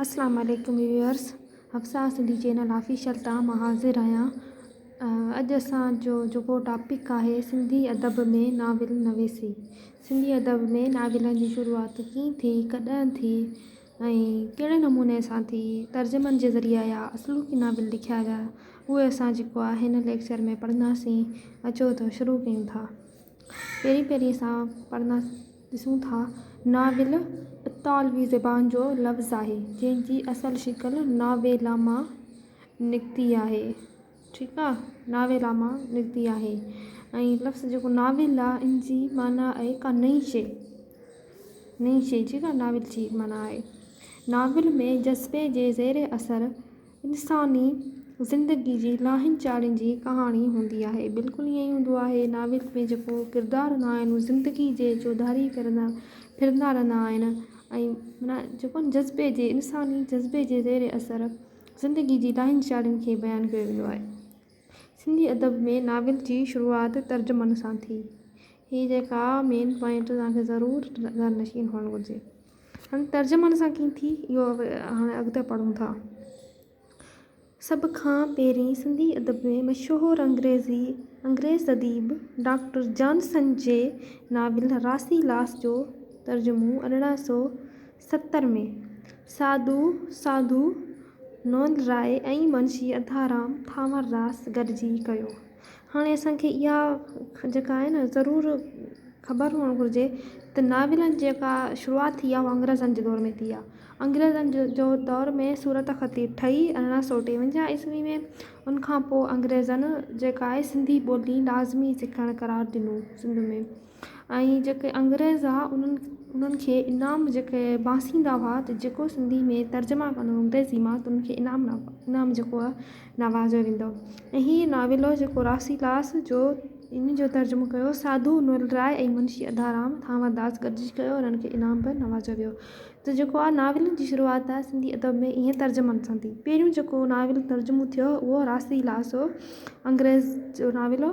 السلام عليڪم viewers Hafsa Sindhi channel official تان مان حاضر آهيان اڄ اسان جو جيڪو ٽاپڪ آهي سنڌي ادب ۾ ناول نويسي سنڌي ادب ۾ ناولن جي شروعات ڪيئن ٿي ڪڏهن ٿي ۽ ڪهڙي نموني سان ٿي ترجمن جي ذريعي آيا اصل ڪي ناول لکيا ويا اهو اسان جيڪو آهي هن ليڪچر ۾ پڙهنداسين اچو ته شروع ڪيون ٿا پهرين پهرين اسان پڙهنداسين ڏسون ٿا، ناول اطالوي زبان جو لفظ آهي، جنهن جي اصل شڪل ناويلا مان نڪتي آهي، ٺيڪ آ، ناويلا مان نڪتي آهي ۽ لفظ جيڪو ناول آ، ان جي معنيٰ آهي ڪا نئين شيء، نئين شيء جي ڪا ناول جي معنيٰ آهي. ناول ۾ جذبي جي زير اثر. انساني زندگي جي لاهين چاڙهين جي ڪهاڻي هوندي آهي بلڪل ائين ئي هوندو آهي ناول ۾ جيڪو ڪردار هوندا آهن هو زندگي جي چوڌاري ڦرندا ڦرندا رهندا آهن ۽ منا جيڪو آهن جذبي جي انساني جذبي جي زير اثر زندگي جي لاهين چاڙهين کي بيان ڪيو ويندو آهي سنڌي ادب ۾ ناول جي شروعات ترجمن سان ٿي. هي جيڪا مين پوائنٽ توهان کي ضرور ذهن نشين هئڻ گهرجي. هاڻي ترجمن سان ڪيئن ٿي اهو هاڻي اڳتي پڙهون ٿا. سڀ کان پهرين سنڌي ادب ۾ مشهور انگريزي انگريز اديب ڊاڪٽر جانسن جي ناول راسي لاس جو ترجمو ارڙهن سؤ ستر ۾ ساڌو ساڌو نوند راء ۽ منشي اڌارام ٿانور داس گڏجي ڪيو. هاڻي اسان کي اها جيڪا آهي نه ضرور خبر هئڻ گهرجي ته ناولن جي جيڪا شروعات ٿي آهي اها انگريزن جي دور ۾ ٿي آهي انگريزن جو دور ۾ صورت خطي ٺهي ارڙهن سؤ ٽيونجاهه عيسوي ۾ ان کان پوء انگريزن جيڪا آهي سنڌي ٻولي لازمي سکڻ قرار ڏنو سنڌ ۾ ۽ جيڪي انگريز ھئا انھن انھن کي انعام جيڪي باسيندا ھئا ته جيڪو سنڌي ۾ ترجما ڪندو انگريزي مان ته انھن کي انعام انعام جيڪو آ نوازيو ويندو ۽ ھي ناول ھو جيڪو راسيلاس جو انھن جو ترجمو ڪيو ساڌو نول راء ۽ منشي اڌارام ھامر داس گڏجي ڪيو انھن کي انعام به نوازيو ويو ته جيڪو آ ناولن جي شروعات آ سنڌي ادب ۾ ايئن ترجمن سان ٿي پھريون جيڪو ناول ترجمو ٿيو ھو راسيلاس ھو انگريز جو ناول ھو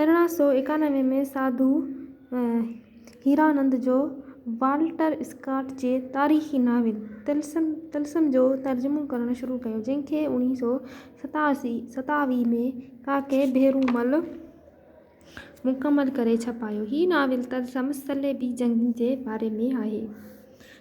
ارڙهن سؤ ايڪانوي ۾ ساڌو هيرانند جو والٽر اسڪاٽ جي تاريخي ناول طلسم Tillsome جو ترجمو ڪرڻ شروع ڪيو، جنهن کي اڻيهه سؤ ستاوي ۾ ڪاڪي ڀيرومل مڪمل ڪري ڇپايو. هي ناول طلسم صليبي جنگ جي باري ۾ آهي.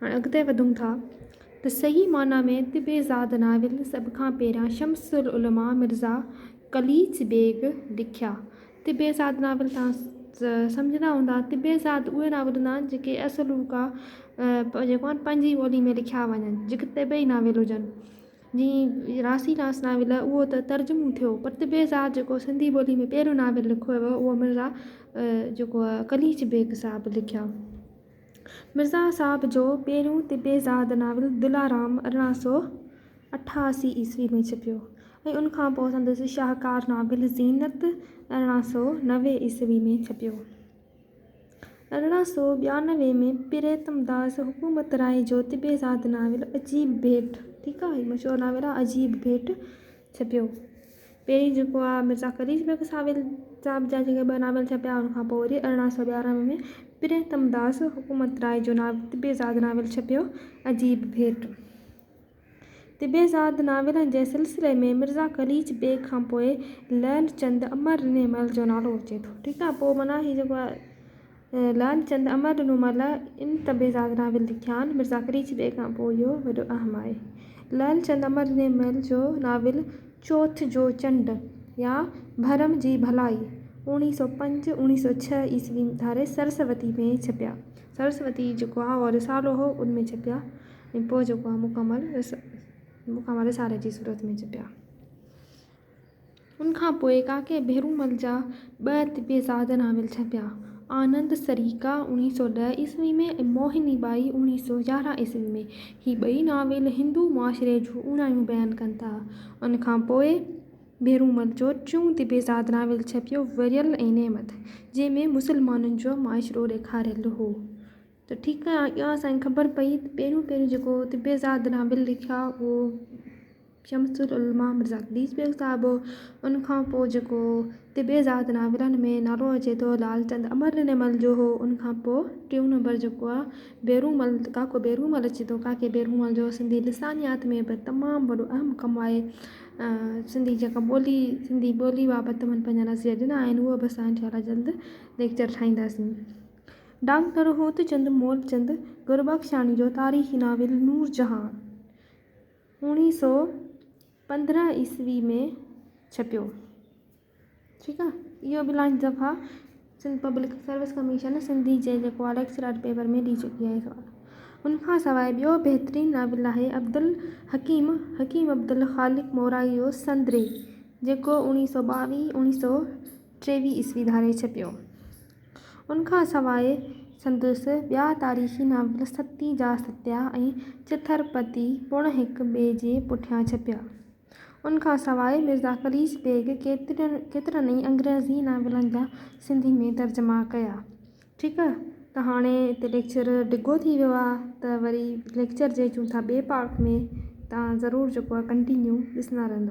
هاڻ اڳتي وڌون ٿا ته صحيح معنيٰ ۾ طب زاد ناول سڀ کان پهريان شمس العلماء مرزا قليچ بيگ لکيا. طب زاد ناول توهان سمجهندا هوندا. طب زاد اهي ناول هوندا آهن جيڪي اصل روڪا جيڪو آهن پنهنجي ٻولي ۾ لکيا وڃن جيڪي طبعي ناول هجن جيئن راسي راس ناول اهو ته ترجمو ٿيو پر طب زاد جيڪو سنڌي ٻولي ۾ پهريون ناول لکيو ويو اهو مرزا جيڪو قليچ بيگ صاحب لکيا. مرزا صاحب جو پهريون طبعي زاد ناول دلارام ارڙهن سؤ اٺاسي عيسوي ۾ ڇپيو ۽ ان کان پوء سندس شاهڪار ناول زينت ارڙهن سؤ نوي عيسوي ۾ ڇپيو. ارڙهن سؤ ٻيانوي ۾ پريتم داس حڪمترائي جو طبعي زاد ناول عجيب ڀيٽ، ٺيڪ آهي، مشهور ناول آهي عجيب ڀيٽ، ڇپيو. پهرين جيڪو آ مرزا خليل بيگ ساول صاحب جا جيڪي ٻه ناول ڇپيا ان کان پوء وري ارڙهن سؤ ٻيارنهن ۾ پريتم داس حڪومت راء جو ناول طبع زاد ناول ڇپيو عجيب ڀيٽ طبع زاد ناولن جي سلسلي ۾ مرزا خليل بيگ کان پوء لعل چند امر رني مل جو نالو اچي ٿو ٺيڪ آ پوء معنيٰ هي جيڪو آ لعل چند امر ڏنو ملا ان طبع زاگران به لکيان مرزا قريچي ڏيئي کان پوء اهو وڏو اهم آهي لعل چند امر ڏني مل جو ناول چوٿ جو چنڊ يا ڀرم جي ڀلائي اوڻيهه سؤ پنج اوڻيهه سؤ ڇهه عيسوي ڌاري سرسوتي ۾ ڇپيا سرسوتي جيڪو آهي اهو رسالو هو ان ۾ ڇپيا ۽ پوء جيڪو آهي مڪمل رسالي جي صورت ۾ ڇپيا ان کان پوء ڪاڪي ڀيرومل جا ٻه طبعزاده ناول ڇپيا، آنند سريڪا، اوڻيهه سؤ ڏهه عيسوي ۾، ۽ موهني ٻائي، اوڻيهه سؤ يارهن عيسوي ۾. هي ٻئي ناول هندو معاشري جون اوڻايون بيان ڪن ٿا. ان کان پوء ڀيرومل جو ٽيون طبعزاده ناول ڇپيو وريل ۽ نعمت، جنهن ۾ مسلمانن جو معاشرو ڏيکاريل هو. ته ٺيڪ آهي، اها اسان کي خبر پئي ته پهريون پهريون جيڪو طبعزاده ناول لکيا اهو. شمس العلماء مرزا قليچ بيگ صاحب هو ان کان پوء جيڪو طبعي ذات ناولن ۾ نالو اچي ٿو لعلچند امرنرمل جو هو ان کان پوء ٽيون نمبر جيڪو آ بيرومل ڪاڪو بيرومل اچي ٿو ڪاڪي بيرومل جو سنڌي لسانيات ۾ به تمام وڏو اهم ڪم آهي سنڌي جيڪا ٻولي سنڌي ٻولي بابت تمن پنهنجا نظريا ڏنا آهن هو به اسان انشاء الله جلد ليڪچر ٺاهينداسين ڊاڪٽر هوتچند مولچند گربخشاڻي جو تاريخي ناول نور جهان اوڻيهه سؤ پندرهن عيسوي ۾ ڇپيو. ٺيڪ آ اهو به لانچ دفعا Sindh public service commission Sindhi جي جيڪو آ ليڪچر آرٽ پيپر ۾ ڏئي چڪي آهي سوال. ان کان سواء ٻيو بهترين ناول آهي عبدالحڪيم حڪيم عبدالخالق مورائي جو سندري جيڪو اوڻيهه سؤ ٻاويهه اوڻيهه سؤ ٽيويهه عيسوي ڌاري ڇپيو. ان کان سواء سندس ٻيا تاريخي ناول ستي جا ستيا ۽ چٿرپتي پڻ هڪ ٻئي جي پٺيان ڇپيا. ان کان سواء مرزا خليص بيگ ڪيترن ڪيترن ئي انگريزي ناولن جا سنڌي ۾ ترجما ڪيا. ٺيڪ ته هاڻي هتي ليڪچر ڊگهو ٿي ويو آهي ته وري ليڪچر جي اچون ٿا ٻئي پارٽ ۾ تان ضرور جيڪو آهي ڪنٽينيو ڏسندا رهندا.